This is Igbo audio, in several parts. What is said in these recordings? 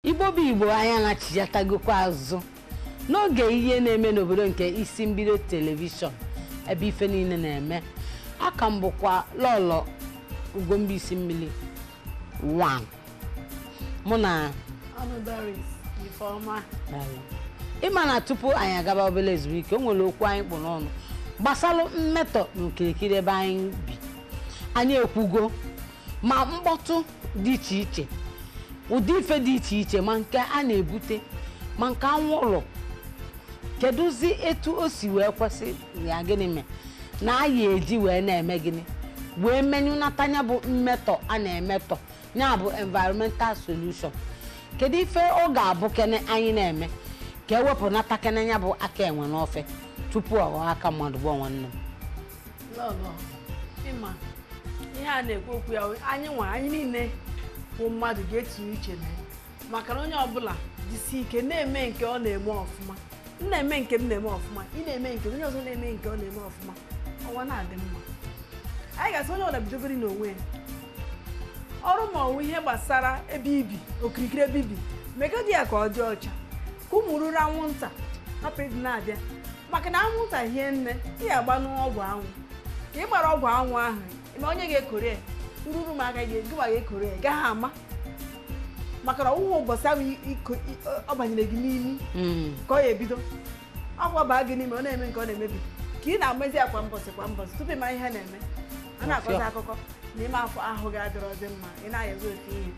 Igbo bụ Igbo anyị anachighatagokwa azụ n'oge ihe na-eme n'obodo nke isi mbido telivishọn ebe ife niile na-eme a ka m bụkwa lọlọ ugomba isi mmiri 1 mụ na ị ma na tupu anyị agaba obere ezumike o nwere okwu anyị kpụ n'ọnụ gbasara mmetọ n'okirikiri ebe anyị bi anyị ekwugo ma mkpọtụ dị iche iche ụdị ife dị iche iche ma nke a na-ebute ma nke anwụlụ kedụzi etu o si wee kwesị ya gịnị mee na anyị eji wee na-eme gịnị wee menyụnata ya bụ mmetọ a na-emetọ ya bụ environmental pollution kedu ife ọ ga-abụ kene anyị na-eme ka e wepụnata kene ya bụ aka enwe n'ofe tupu ọ ghọọ aka mmadụ bụ nwanne m lọlọ ị ma ihe a na-ekwu okwu ya anyị nwa anyị niile bụ mmadụ ga-etinye uche na ya maka na onye ọbụla jisi ike na-eme nke ọ na-eme ọfụma m na-eme nke m na-eme ọfụma ị na-eme nke onye ọzọ na-eme nke ọ na-eme ọfụma ụwa na-adị mma anyị ga-asị onye ọbụla bidogori n'onwe ya ọrụ ma ọ wụ ihe gbasara ebe i bi okirikiri ebe i bi megodi ya ka ọ dị ọcha ka ụmụ eruru anwụnta hapụ ịdị na-abịa maka na anwụnta hie nne ị ya-agbanụ ọgwụ anwụ ka ị gbara ọgwụ anwụ ahụ ma onye ga-ekuru ya ururu m aka gị gịwa ga-ekuru ya gaghị ama maka na ọ wụghị ụbọchị ahụ ọ banyere gị n'imi hmm. ka ọ ya-ebido ọgwụ baa gị n'ime ọ na-eme nke ọ na-emebi ka ị na-amazi ya kwa mbọsị kwa mbọsị tupu ị ma ihe na-eme a na-akọta akụkọ na ime afọ ahụ gị adịrọzi mma ị na-ayazi ofe ihe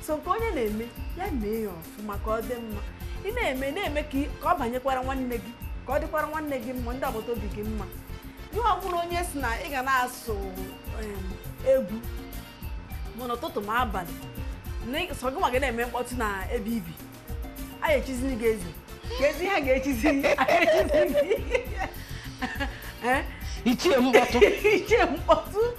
so nke onye na-eme ya mee ya ọfụma ka ọ dị mma ị na-eme na-eme ka ị- ka ọ banyekwara nwanne gị ka ọ dịkwara nwanne gị mma ndị agbata obi gị mma ihe ọ bụla onye sị na ị ga na-asụ em, egwu ma n'ụtụtụ ma abalị na ị- sọ gị nwa gị na-eme mkpọtụ na ebe i bi a ga-echiziri gị eze ka eze ha ga-echizi a ga-echizi gị Eh? ichie mkpọtụ ichie mkpọtụ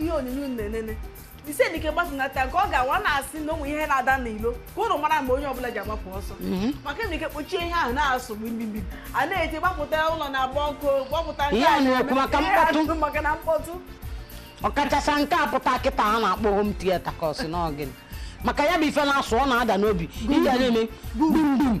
ihe onyonyo na-enene jisi ike gbatunata nke ọ ga-awụ a na-asị na ụmụ ihe na-ada n'ilo ka ụnụ mara mgbe onye ọbụla ji agbapụ ọsọ mhm. maka na ị kpọchie ihe ahụ na-asụ mgbimgbim a na-eti gbapụta ụlọ na-agba ọkụ gbapụta maka na mkpọtụ ọkachasị nke a pụta kịta a na-akpọ home theater ka ọ sị n'ọ gịnị maka ya bụ ife na-asụ ọ na-ada n'obi ihe na-eme gbum gbum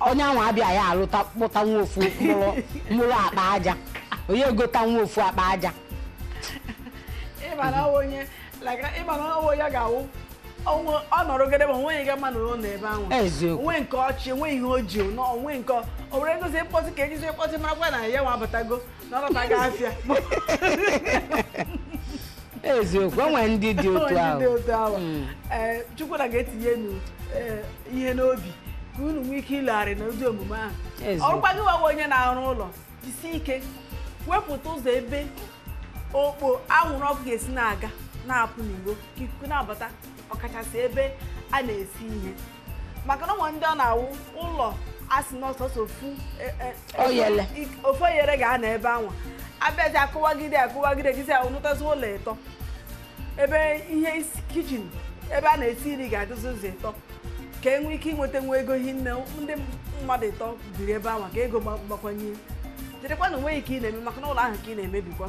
onye ahụ abịa ya alụpụta nwa ofu mụrụ mụrụ akpa aja onye egota nwa ofu akpa aja ịmara onye like ịmara ọ wụ ya ga-awụ onwe ọ nọrọ ogede ma o nweghị ga mma nọrọ n'ebe ahụ Eziokwu. o nwe nke ọ chị o nwe ihe o ji na o nwe nke o nwere ngozi mkpọtụ ka e jizi mkpọtụ marakwa na ya nwa abatago eziokwu o nwere ndị dị otu ahụ hmm. eh, chukwu nna ga-etinye eh, ihe n'obi ka unu nwee ike ilogharị na ụdị omume ahụ ọ rụkwa gị nwawa onye na-arụ ụlọ jisi ike wepụta ụzọ ebe okpo anwụrụ ọkụ ga-esi na-aga na-apụ n'iro ka ikuku na-abata ọkachasị ebe a na-esi ihe maka na o nwee ndị ọ na-awụ ụlọ a sị na ọ sọsọ ofu oyere ga-anọ ebe anwa a bịazi akụwagide kụwagide gịzi anụtazi ụlọ ịtọ ebe ihe isi- kichin ebe a na-esi nri ga-adịzi ụzọ ịtọ ka e nwee ike inweta nwa ego hi nne ndị mmadụ ịtọ biri ebe anwa ka ego gba- gbakwanye jirikwa na o nweghị nke ị na-eme maka na ụlọ ahụ ka ị na-emebikwa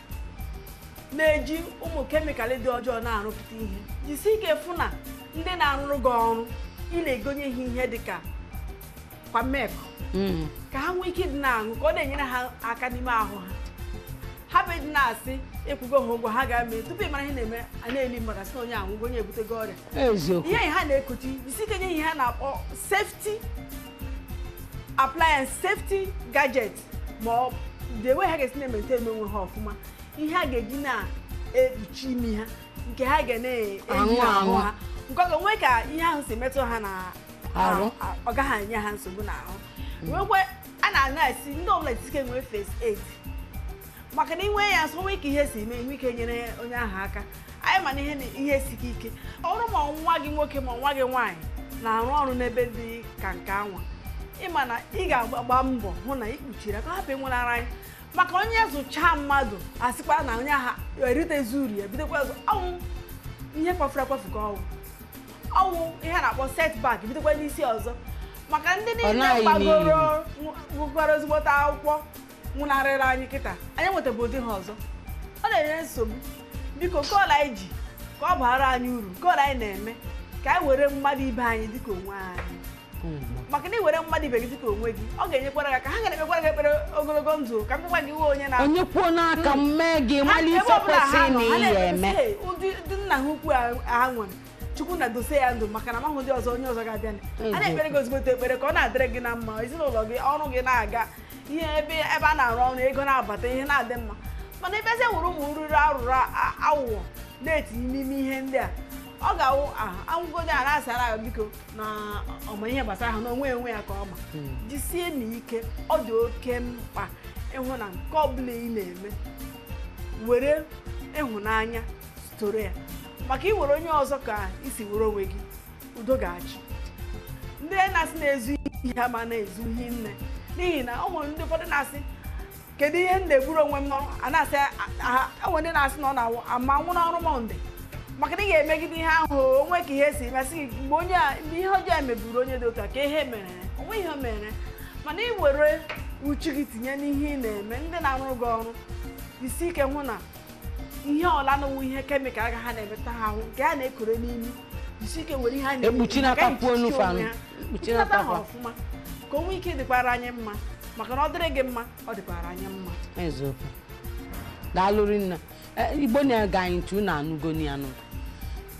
na-eji ụmụ kemịkalụ dị ọjọọ na-arụpụta ihe jisi ike fụ na ndị na-arụrụ gị ọrụ ị na-egonye ha ihe dị ka cow milk mm. ka ha nwee ike ịdị na-aṅụ ka ọ na-enyere ha aka n'ime ahụ ha hapụ ịdị na-asị ịkwụgo ha ụgwọ ha ga-eme tupu ịmara ihe na-eme a na-eli mmadụ a sị na onye anwụgo onye ebutego ọrịa ihe ha na-ekuchi jisi ike nye ha ihe a na-akpọ safety appliance safety gadget ma ọ dị enwe ha ga-esi na-emete eme onwe ha ọfụma ihe a ga-eji na-ekpuchi imi ha nke ha ga na-eyi n'ahụ ha nke ọ ga-enwe ka ihe ahụ si metụ ha na ọ gaghị enye ha nsogbu n'ahụ nwekwe anyị na-asị ndị ọbụla jisi ike nwee first aid maka na inwe ya nso nwee ka ihe si mee nwee ike nyere onye ahụ aka anyị ma na ihe na- ihe siri ike ọ bụrụ ma ọ nwa gị nwoke ma ọ nwa gị nwaanyị na-arụ ọrụ n'ebe dị ka nke anwa ịma na ị ga-agba mbọ hụ na ị kpuchiri ya ka ọ hapụ ịnwụnara anyị maka onye zụchaa mmadụ asịkwa na onye ahụ eritezi uru ya bidokwa ọzọ ọ wụ ihe kwafuru akwafu ka ọ wụ ọ wụ ihe a na-akpọ setback bidokwa n'isi ọzọ maka ndị niile gbagoro nwekwara ezigbote akwụkwọ nwụnarịrị anyị kịta anyị nwetabu ụdị ha ọzọ ọ na-enye nsogbu biko ka ole anyị ji ka ọ baara anyị uru ka ole anyị na-eme ka anyị were mmadụ ibe anyị dịka onwe anyị maka na iwere mmadụ ibe gị dịka onwe gị ọ ga-enyekwara gị aka ha ga-ekpekwara gị ekpere ogologo ndụ ka mkpụkwa gị iwe onye na onye kwuo n'aka m mee gị mara ihe kwesịrị na ihe eme ụdị nna ha ukwu ha nwere chukwu nna dosie ya ndụ maka na amahụ ụdị ọzọ onye ọzọ ga-abịa a na-ekpere gị ezigbote ekpere ka ọ na-adịrị gị na mma ezinụlọ gị ọrụ gị na-aga ihe ebe ebe a na-arụ ọrụ ego na-abata ihe na-adị mma mana ị bịazie were ụmụ nrụrụ arụrụ awụwọ na-etinye n'ime ihe ndị a ọ ga-awụ anwụgodi a na-asị hara ya biko na ọ ma ihe gbasara ha na onwe ya onwe ya ka ọ ma hmm. jisie na ike ọ dị oke mkpa ịhụ na nke ọ bụla ị na-eme were ịhụnanya soro ya maka i were onye ọzọ ka i si were onwe gị udo ga-achị ndị na-asị na-ezu ihe ha ma na-ezu ihe nne n'ihi na ọ nwere ndị ụfọdụ na-asị kedu ihe m na-egburu onwe m n'ọrụ a na-asị aha e nwe ndị na-asị na ọ na-awụ ama nwụ n'ọrụ mọnde maka na ị ga-emegide ihe ahụ o nwe ka ihe si masị gị mgbe onye a mgbe ihe ọjọọ a mebiri onye dị ụka ka ihe mere o nwe ihe o mere mana ị were uchu gị tinye n'ihe ị na-eme ndị na-arụrụ gị ọrụ jisi ike hụ na ị hụla na o nwe ihe kemikal ha na-emeta ha ahụ nke ha na-ekuru n'imi jisi ike were ihe ha ekpuchinata ha ọfụma ka o nwee ike dịkwara anyị mma maka na ọ dịrị gị mma ọ dịkwara anyị mma eziokwu daalụ rinne Eh, igbo na-ege anyị ntị unu anụgo ya nụ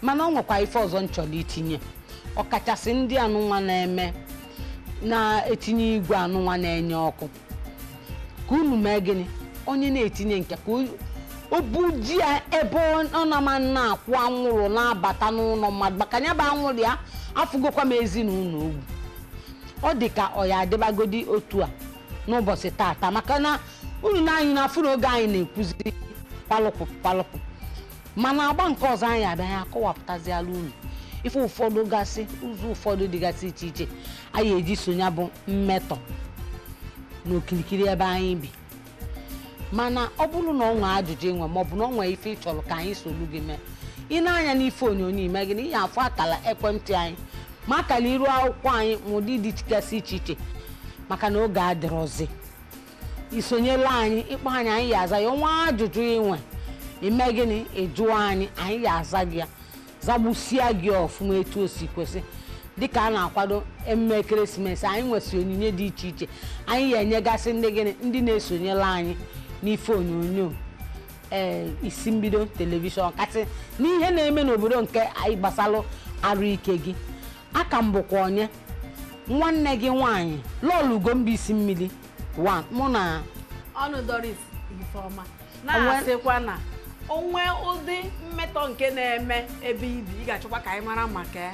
mana ọ nwekwa ife ọzọ m chọrọ itinye ọkachasị ndị anụnwa na-eme na-etinye igwe anụnwa na-enye ọkụ ka unu mee gịnị onye na-etinye nke ya o buje ya ebe ọ na-ama na-akwụ anwụrụ na-abata n'ụlọ mmadụ maka ya bụ anwụrụ ya afụgokwa m ezinụlọ o gbu ọ dị ka ọ ya-adịbagodi otu a n'ụbọchị tata maka na unu na anyị na-afụ na oge anyị na-ekwuzi palụpụ palụpụ mana agba nke ọzọ anyị bịa anyị akọwapụtaziala unu ife ụfọdụ gasị ụzọ ụfọdụ dịgasị iche iche anyị eji so ya bụ mmetọ n'okirikiri ebe anyị bi mana ọ bụrụ na ọ nwee ajụjụ i nwe ma ọ bụ na ọ nwee ife ị chọrọ ka anyị solu gị mee i nee anya n'ife onyonyo i mee gịnị ị ya-afụ akala ekwentị anyị ma akala iru akwụkwọ anyị ma ụdị dị gasị iche iche maka na oge adịrọzi i sonyela anyị ị kpọọ anyị anyị ya-aza ya o nwee ajụjụ i nwe i mee gịnị ị jụọ anyị anyị ya-aza gị ya zagbusia gị ọfụma etu o si kwesị dịka a na-akwado emume ekeresimesi anyị nwesị onyinye dị iche iche anyị ya-enyegasị ndị gịnị ndị na-esonyela anyị n'ife onyonyo ee isi mbido telivishọn kasị n'ihe na-eme n'obodo nke anyị gbasalụ arụ ike gị a ka m bụkwa onye nwanne gị nwaanyị lọọlọ ugomba isi mmiri mụ na ọnụ doris ifeọma na-asịkwa na o nwee ụdị mmetọ nke na-eme ebe i bi ị ga-achọkwa ka anyị mara maka ya